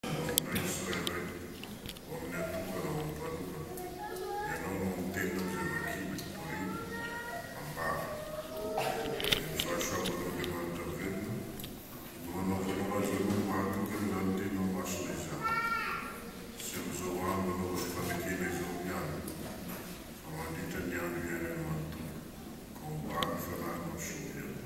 Misaotra tsirairay ho amin'ny atokana ho an'ny valovany. Ianao no miteny hoy izay vakina, Torina, ambara. Dia ny fahasoavan'Andriamanitra velona no hanaovanao azy ireo ho mahatoky an'izany tenao masina izany. Tsy amin'izao andro anaovany fanekena izao ihany fa mandritra ny andro iainany manontolo ka ombà ny fanahy mampisovy anao.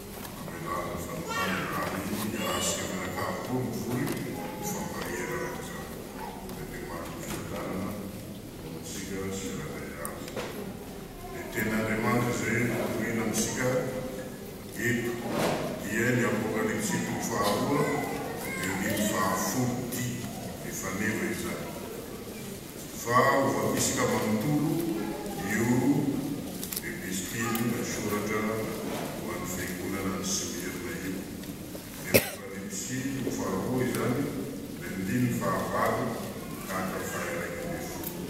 Mamelàna izany tany ary miarà sy mianakavy koa no vory ny fampaherana izany. Dia dia maty ny fiadanana ho antsika tsirairay avy. Ny teny Andriamanitra izay notorina amintsika eto dia ny Apokalypsy toko faharoa, ny andininy fahafolo, dia efa neva izany. Fa ho vakisika manontolo io epistilina, soratra ho an'ny fiangonana any Smyrna io. Ny Apokalypsy no faharoa izany, ny andininy fahavalo tahaka fahiraika ambin'ny folo.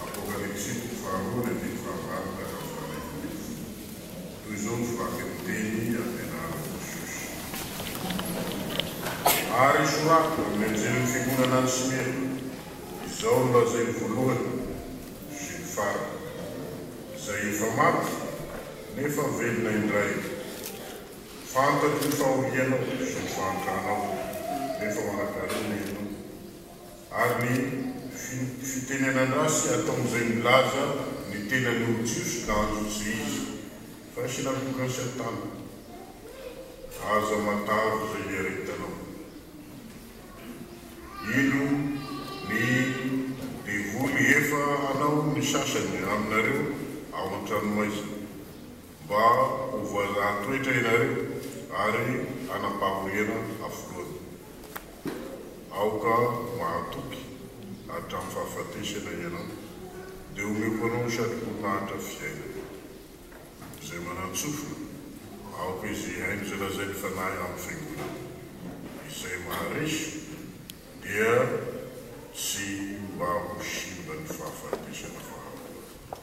Apokalypsy toko faharoa, ny andininy fahavalo tahaka ny faharaika ambin'ny folo. Toy izao ny vakinteny ampianarina ny Shusha. Ary soraty amin'ny anjelin'ny fiangonana any Smyrna, Izao no lazainy voalohany sy ny farany, izay efa maty nefa velona indray, Fantatro ny fahorianao sy ny fahantranao, nefa manakarena ianao. ary ny fitenenan-dratsy ataon'izay milaza ny tenany ho Jiosy na anti-Jiosy. Fa sinagogan'i Satana. Aza matavy izay hiaretanao. Ilo ny devoly efa hanao ny sasany aminareo ao an-tranomaizina, mba ho voazahan-toetra ianareo ary hanam-pahoriana hafoloana. Aoka mahatoky hatramin'ny fahafatesana ianao, dia omeko anao ny satrok'olona hahantra fiainana. Izay manan-tsofina, aoka izy hihaino izay lazain'ny Fanahy amin'ny Fiangonana. Izay maharesy, dia tsy mba ho simban'ny fahafatesana faharoa.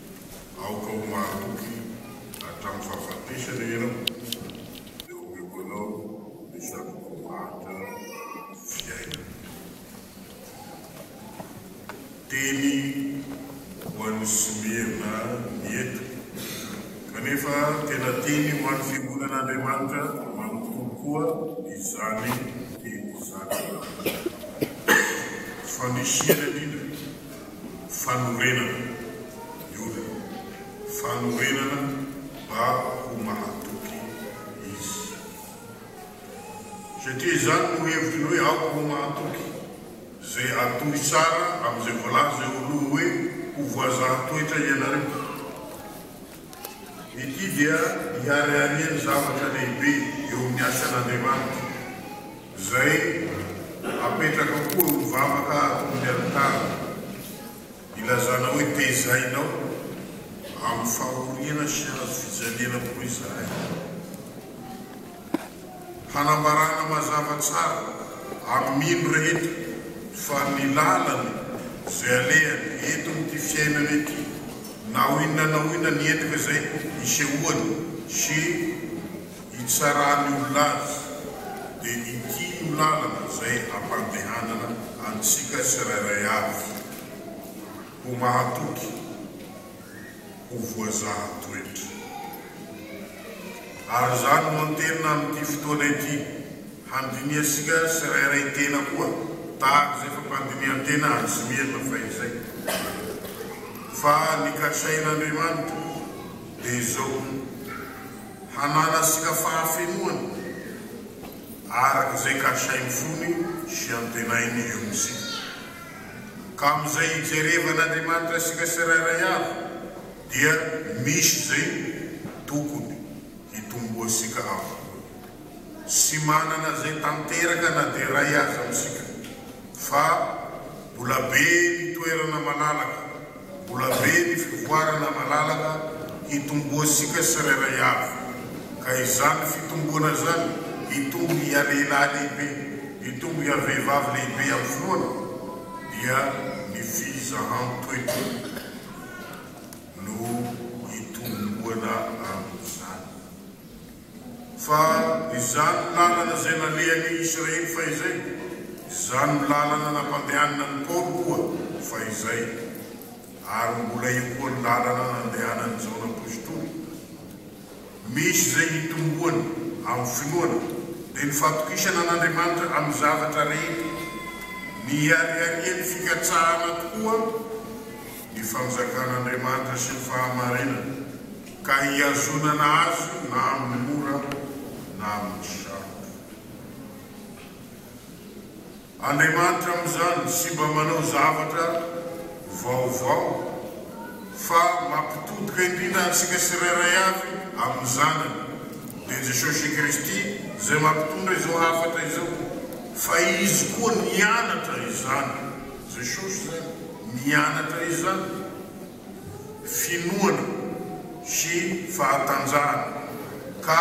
Aoka ho mahatoky hatramin'ny fahafatesana ianao, dia homeko anao ny zava-boahatra fiainana. Teny ho an'i Smirna ny eto, kanefa tena teny ho an'ny fiangonan'Andriamanitra manontolo koa izany teny izany. Fanisihana indrindra. Fanorenana, Yoda, fanorenana mba ho mahatoky izy. Satria izany no hevitry ny hoe aoka ho mahatoky, izay atohy tsara amin'izay voalaza eo aloha hoe ho voazaha toetra ianareo. Ity dia hiharihary ny zavatra lehibe eo amin'ny asan'Andriamanitra, izay apetraka koa ho vavaka ato amin'ny alitara, ilazana hoe Tezainao amin'ny fahoriana sy hazo fijaliana koa izahay. Hanambarana mazava tsara amin ino rehetra fa ny lalana izay alehany eto amin ity fiainana ity na ho inona na ho inona ny endrika izay isehoany sy itsaran ny olona azy dia ity no lalana izay ampandehanana antsika tsirairay avy ho mahatoky ho voazaha toetra. Ary izany no anteninay amin'ity fotoana ity, handinihantsika tsirairay tena koa tahaka izay fampandinihan-tena an'i Smirna fahizay. Fa ny kasain'Andriamanitra dia izao, hananantsika fahafenoana araka izay kasainy fony sy antenainy eo amintsika. Ka amin'izay ijerevan'Andriamanitra isika sirairay avy dia misy izay tokony hitomboantsika avokoa. Tsy manana izay tanteraka na dia iray aza amintsika fa mbola be ny toerana malalaka. Mbola be ny fivoarana malalaka hitomboantsika tsirairay avy, ka izany fitomboana izany hitombo hialehilahy lehibe, hitombo hiavehivavy lehibe amin'ny finoana, dia ny fizahan-toetra no hitomboana amin'izany. Fa izany lalana izay nalehan' i Israely fahizay, izany lalana nampandehanana an' i Paoly koa fahizay, ary mbola eo koa ny lalana nandehanan' i Jaona Apostoly. Misy izay hitomboany amin' ny finoana, dia ny fatokisana an' Andriamanitra amin' ny zavatra rehetra. Mihariharian' ny fikatsahana tokoa ny Fanjakan' Andriamanitra sy ny fahamarinana. ka hihazonana azy na amin'ny mora na amin'ny sarotra. Andriamanitra amin'izany tsy mba manao zavatra vaovao fa mampitodika indrindra antsika tsirairay avy amin'ny Zanany, dia Jesosy Kristy, izay mampitondra izao hafatra izao, fa Izy koa nianatra izany. Jesosy izany nianatra izany. finoana sy fahatanjahana ka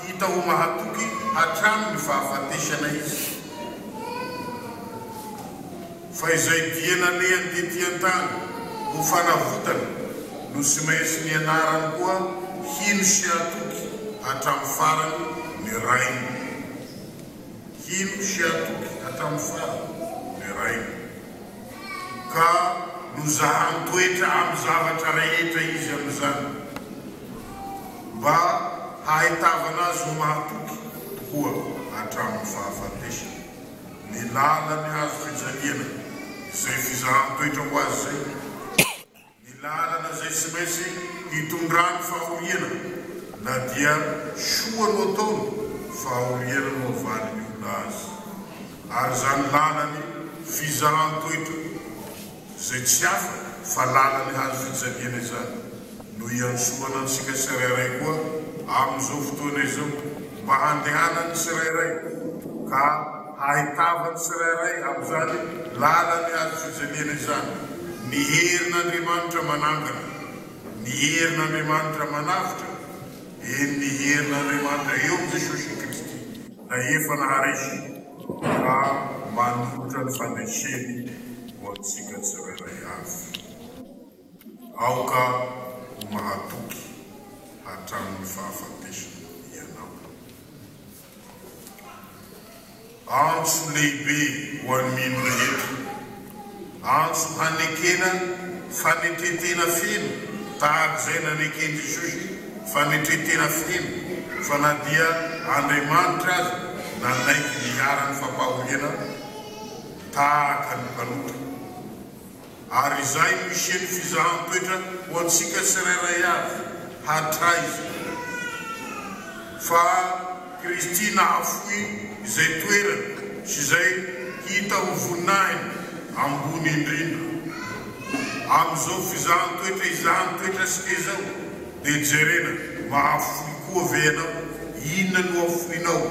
hita ho mahatoky hatramin'ny fahafatesana izy. Fa izay dia nalehany tetỳ an-tany ho fanavotana no tsy maintsy nianarany koa hino sy hatoky hatramin'ny farany ny Rainy. Hino sy hatoky hatramin'ny farany ny Rainy. ka nozahan-toetra amin'ny zavatra rehetra izy amin'izany, mba hahaitavana azy ho mahatoky tokoa hatramin'ny fahafatesany. Ny lalan'ny hazo fijaliana izay fizahan-toetra ho azy izay. Ny lalana izay tsy maintsy hitondrany fahoriana na dia soa no ataony, fahoriana no avalin'ny olona azy. Ary izany lalany fizaran-toetra, izay tsy hafa fa lalany hazo fijaliana izany, no iantsoana antsika tsirairay koa amin'izao fotoana izao mba handehanan'ny tsirairay ka Ahitava ny tsirairay amin'izany lalan'ny hazo fijaliana izany ny herin'Andriamanitra manangana, ny herin'Andriamanitra manavotra, eny, ny herin'Andriamanitra eo amin'i Jesosy Kristy. Na efa naharesy fa manolotra ny fandreseny ho antsika tsirairay avy. Aoka ho mahatoky hatramin'ny fahafatesana ianao. Antso lehibe ho an'ny mino rehetra. Antso hanekena fanetren-tena feno tahaka izay naneken'i Jesosy fanetren-tena feno fa na dia Andriamanitra aza nanaiky ny iharan'ny fampahoriana tahaka ny mpanota. Ary izay no hisian'ny fizahan-toetra ho antsika tsirairay avy hatraiza, fa Kristy nahafoy izay toerany sy izay hita ho voninahiny ambony indrindra. Amin'izao fizahan-toetra izany toetra antsika izao, Dia jerena, mahafoy koa ve ianao? Inona no afoinao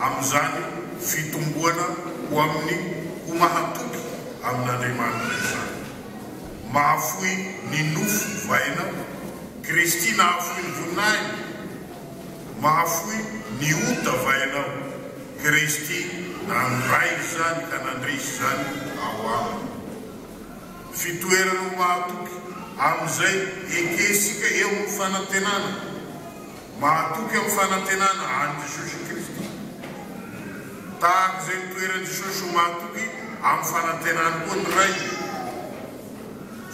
amin'izany fitomboana ho amin'ny ho mahatoky amin'Andriamanitra izany? Mahafoy ny nofo va ianao? Kristy nahafoy ny voninahiny. Mahafoy ny ota va ianao? Kristy nandray izany ka nandresy izany ao Aminy. Fitoerana ho mahatoky amin'izay ekentsika eo amin'ny fanantenana. Mahatoky amin'ny fanantenana an'i Jesosy Kristy. Tahaka izay nitoeran'i Jesosy ho mahatoky amin'ny fanantenany koa ny Ray Izy.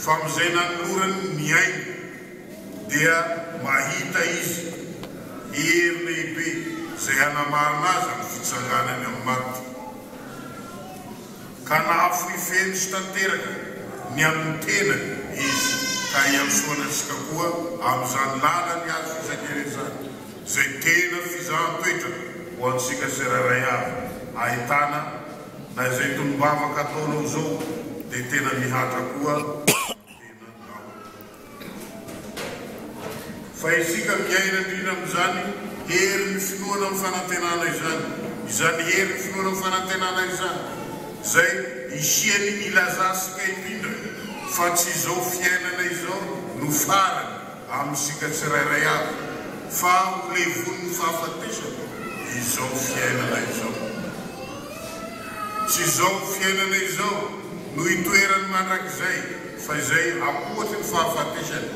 Fa amin'izay nanolorany ny ainy dia mahita Izy hery lehibe izay hanamarina Azy amin'ny fitsanganany amin'ny maty. ka nahafoy feno sy tanteraka ny amin'ny tenany izy, ka iantsoana antsika koa amin'izany lalany azo fisainana izany, izay tena fizahan-toetra ho antsika tsirairay avy, ahitana na izay tonom-bavaka ataonao izao dia tena mihatra koa ny tenanao. Fa isika miaina indrindra amin'izany herin'ny finoana amin'ny fanantenana izany, izany herin'ny finoana amin'ny fanantenana izany izay hisian'ny hilazantsika indrindra fa tsy izao fiainana izao no farany amintsika tsirairay avy, fa ho levon'ny fahafatesana izao fiainana izao. Tsy izao fiainana izao no itoerany mandrakizay fa izay apohatry ny fahafatesany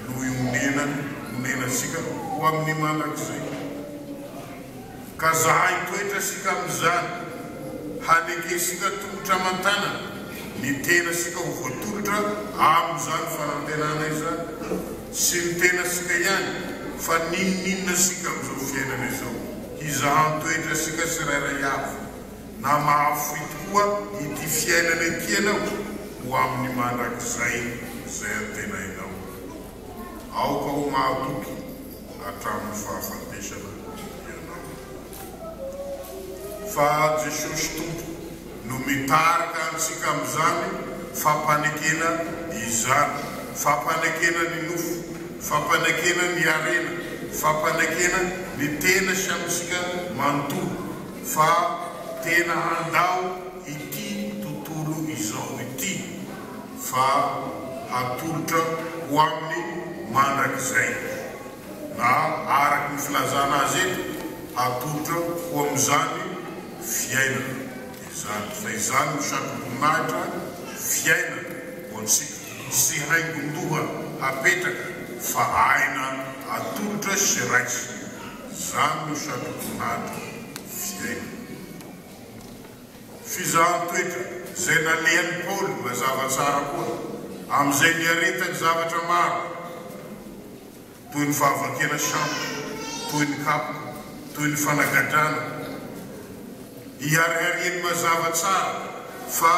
no ionenany, onenantsika ho amin'ny mandrakizay. Ka zahay toetra sika amin'izany, hanekentsika tongotra aman-tanana ny tenasika ho voatolotra amin'izany fanantenana izany, tsy ny tenasika ihany fa n'inon'inona sika amin'izao fiainana izao. Hizaha ny toetrasika tsirairay avy, na mahafoy tokoa ity fiainana ity ianao, ho amin'ny mandrakizay izay antenainao. Aoka ho mahatoky hatramin'ny fahafatesana ianao. Fa Jesosy Tompo. no mitarika antsika amin'izany fampanekena izany, fampanekena ny nofo, fampanekena ny harena, fampanekena ny tena sy amintsika manontolo fa tena handao ity tontolo izao ity fa hatolotra ho aminy mandrakizay. na araka ny filazana azy eto, hatolotra ho amin'izany fiainana izany, fa izany no satroboninahitra fiainana ho antsika, tsy haingon-doha hapetraka, fa aina atolotra sy raisina, izany no satroboninahitra fiainana. Fizahan-toetra izay nalehan'i Paoly mazava tsara koa, amin'izay niaretany zavatra maro. toy ny fahavakena sambo, toy ny kapoka, toy ny fanagadrana. Iharihariany mazava tsara fa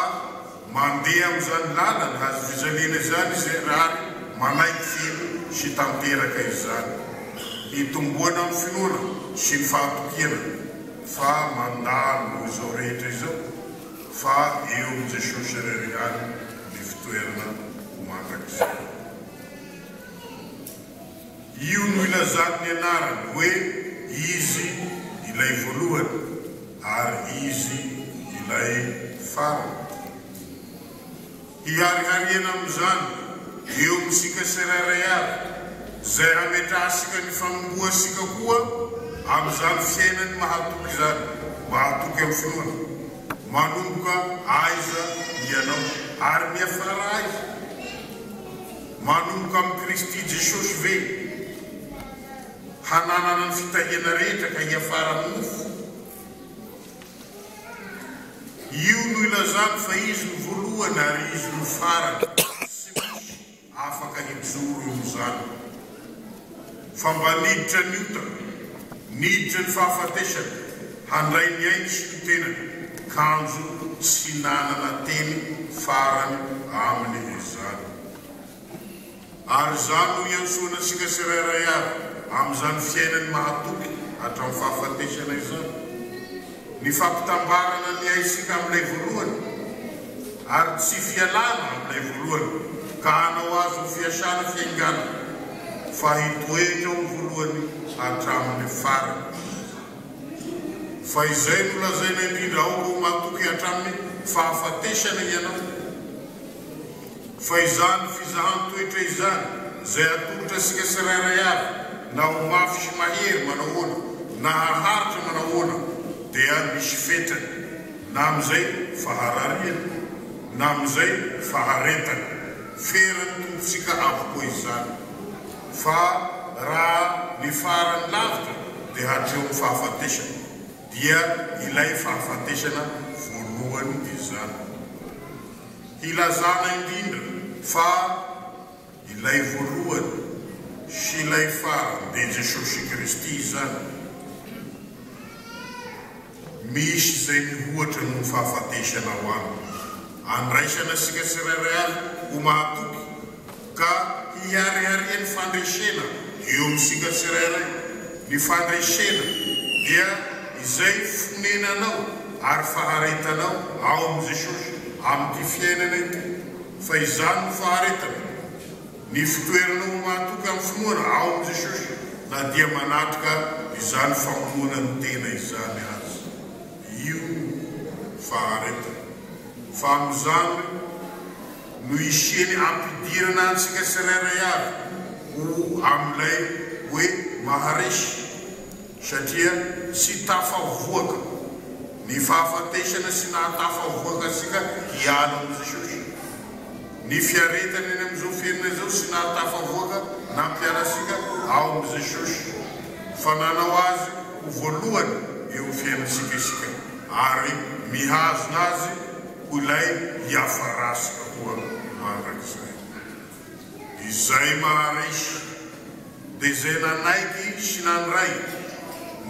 mandeha amin'izany lalana hazo fijaliana izany izy ary manaiky feno sy tanteraka izany. Hitomboana amin'ny finoana sy ny fahatokiana fa mandalo izao rehetra izao fa eo amin'i Jesosy irery ihany ny fitoerana mandrakizay. Io no ilazany ny anarany hoe Izy ilay voalohany ary Izy ilay farany. Hiharihariana amin'izany eo amintsika tsirairay avy, izay hametrahantsika ny fanombohantsika koa amin'izany fiainany mahatoky izany, mahatoky amin'ny finoana. Manomboka aiza ianao ary miafara aiza? Manomboka amin'i Kristy Jesosy ve hananana ny fitahiana rehetra ka hiafara amin'ny nofo? Io no ilazany fa Izy no voalohany ary Izy no farany. Tsy misy afaka hijoro eo amin'izany. fa mba niditra ny ota, niditra ny fahafatesana, handray ny ainy sy ny tenany, kanjo tsy nanana teny farany aminy izy izany. Ary izany no iantsoana antsika tsirairay avy amin'izany fiainany mahatoky hatramin'ny fahafatesana izany. Ny fampitambarana ny aisika amin'ilay voalohany ary tsy fialana amin'ilay voalohany ka hanao azy ho fiasana fiainganana fa hitoetra ho voalohany hatramin'ny farany. Fa izay no lazaina indrindra aoka ho matoky hatramin'ny fahafatesana ianao. Fa izany fizahan-toetra izany izay atolotra antsika tsirairay avy na ho mafy sy mahery manahoana na haharitra manahoana dia misy fetrany, na amin'izay faharariana na amin'izay faharetana. Feran'ny Tompontsika avokoa izany. Fa raha ny farany lavitra dia hatreo amin'ny fahafatesana. Dia ilay fahafatesana voalohany izany. Hilazana indrindra fa ilay voalohany sy ilay farany dia Jesosy Kristy izany. Misy izay mihoatra noho ny fahafatesana ho Aminy. Andraisana antsika tsirairay avy ho mahatoky. ka hiharihary ny fandresena eo amintsika tsirairay, ny fandresena dia izay fonenanao ary faharetanao ao amin'i Jesosy amin'ity fiainana ity, fa izany no faharetana, ny fitoeranao ho mahatoky amin'ny finoana ao amin'i Jesosy na dia manatrika izany famonoana ny tena izany aza, io no faharetana, fa amin'izany. no hisiany hampidirana antsika tsirairay avy ho amin'ilay hoe maharesy, satria tsy tafavoaka ny fahafatesana sy nahatafavoaka antsika hiala amin'i Jesosy, ny fiaretana eny amin'izao fiainana izao sy nahatafavoaka nampiala antsika ao amin'i Jesosy, fa nanao Azy ho voalohany eo amin'ny fiainantsika isika ary mihazona Azy. Ho ilay hiafa ratsy koa mandrakizay. Izay maharesy, dia izay nanaiky sy nandray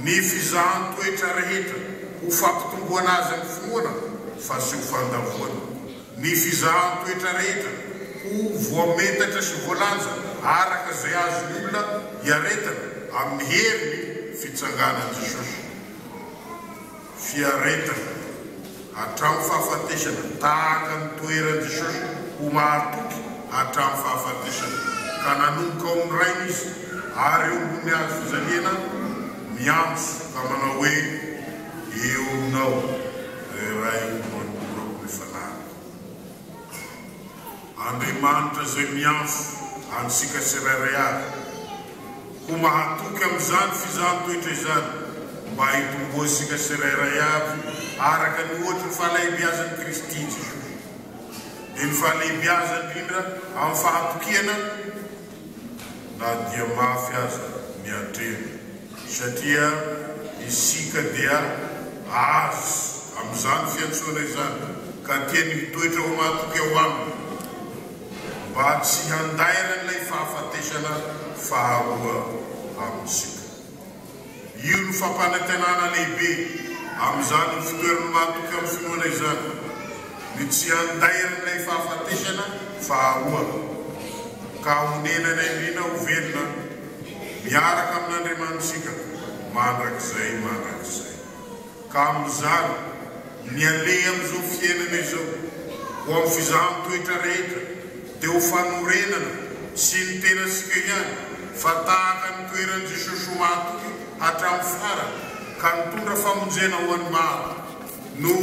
ny fizahan-toetra rehetra ho fampitomboana azy amin'ny finoana fa tsy ho fandavoana, ny fizahan-toetra rehetra ho voametatra sy voalanja araka izay azon'ny olona iaretana amin'ny herin'ny fitsanganan'i Jesosy. fiaretana hatramin'ny fahafatesana tahaka ny toeran'i Jesosy ho mahatoky hatramin'ny fahafatesana ka nanomboka ao amin'ny Rainy Izy ary eo ambony hazo fijaliana miantso ka manao hoe, Eo Ianao, Ray Raiko Manontolo Akoho ny fanahiko. Andriamanitra izay miantso antsika tsirairay avy ho mahatoky amin'izany fizaham-toetra izany mba hitomboantsika tsirairay avy araka ny ohatry ny fahalehibiazan'i Kristy Jesosy. Dia ny fahalehibiazany indrindra amin'ny fahatokiana na dia mafy aza ny atrehina. Satria isika dia azo amin'izany fiantsoana izany, ka tiany hitoetra ho matoky ao Aminy, mba tsy handairan'ilay fahafatesana faharoa amintsika. Io no fampanantenana lehibe amin'izany ho fitoerany matoky amin'ny finoana izany, ny tsy handairan'ilay fahafatesana faharoa, ka honenany an'irina ho velona. miaraka amin'Andriamanitsika mandrakizay mandrakizay. Ka amin'izany, ny aleha amin'izao fiainana izao, ho amin'ny fizahan'ny toetra rehetra, dia ho fanorenana tsy ny tenantsika ihany, fa tahaka ny toeran'i Jesosy ho mahatoky hatramin'ny farany, ka nitondra famonjena ho an'ny maro, no.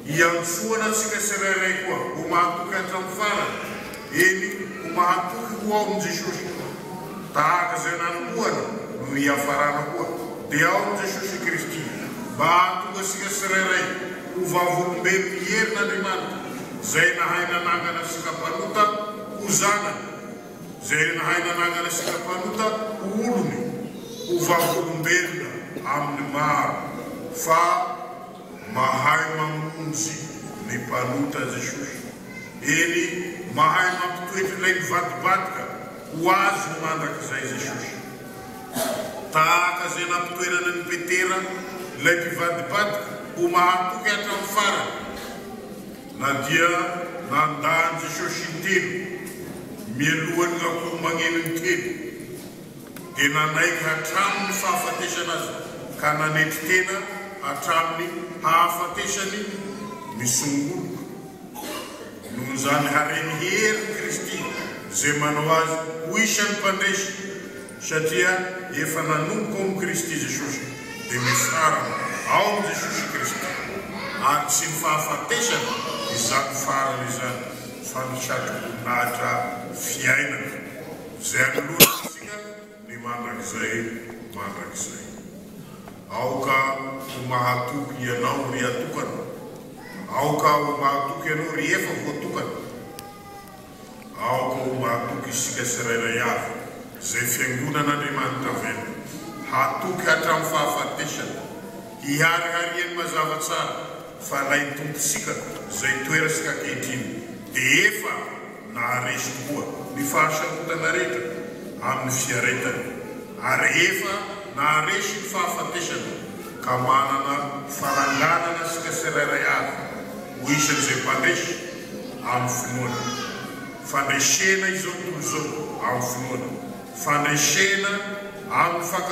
Iantsoana antsika tsirairay koa ho mahatoky hatramin'ny farany, eny, ho mahatoky ho ao amin'i Jesosy. Tahaka izay nanombohana no hiafarana koa, dia ao amin'i Jesosy Kristy, mba hahatonga antsika tsirairay ho vavolombelon'ny herin'Andriamanitra, izay nahay nanangana antsika mpanota ho zanany, izay nahay nanangana antsika mpanota ho olony, ho vavolombelona amin'ny maro, fa. Mahay mamonjy ny mpanota Jesosy. Eny, mahay mampitoetra ilay mivadibadika ho Azy mandrakizay Jesosy. Tahaka izay nampitoerany an'i Petera, ilay mpivadibadika, ho mahatoky hatramin'ny farany, na dia nandà an'i Jesosy intelo mialohan'ny akoho magneno intelo. dia nanaiky hatramin' ny fahafatesana azy ka nanetry tena hatramin' ny hahafatesany ny songoloka, noho izany hareny hery Kristy izay manao azy ho isan' ny mpandresy, satria efa nanomboka ao amin' Kristy Jesosy, dia mifarana ao amin' Jesosy Kristy, ary tsy ny fahafatesana izany farany izany, fa ny satroboninahitra fiainana. Izay anoloana antsika ny mandrakizay mandrakizay. Aoka ho mahatoky Ianao ry atokana. Aoka ho mahatoky Ianao ry efa voatokana. Aoka ho mahatoky isika tsirairay avy, izay fiangonan'Andriamanitra velona, hatoky hatramin'ny fahafatesana, hiharihariany mazava tsara fa ilay Tompontsika izay toeratsika ankehitriny dia efa naharesy koa ny fahasarotana rehetra amin'ny fiaretany ary efa naharesy ny fahafatesana ka manana fananganana isika tsirairay avy ho isan'izay mpandresy amin'ny finoana. Fandresena izao tontolo izao amin'ny finoana. Fandresena amin'ny fakam-.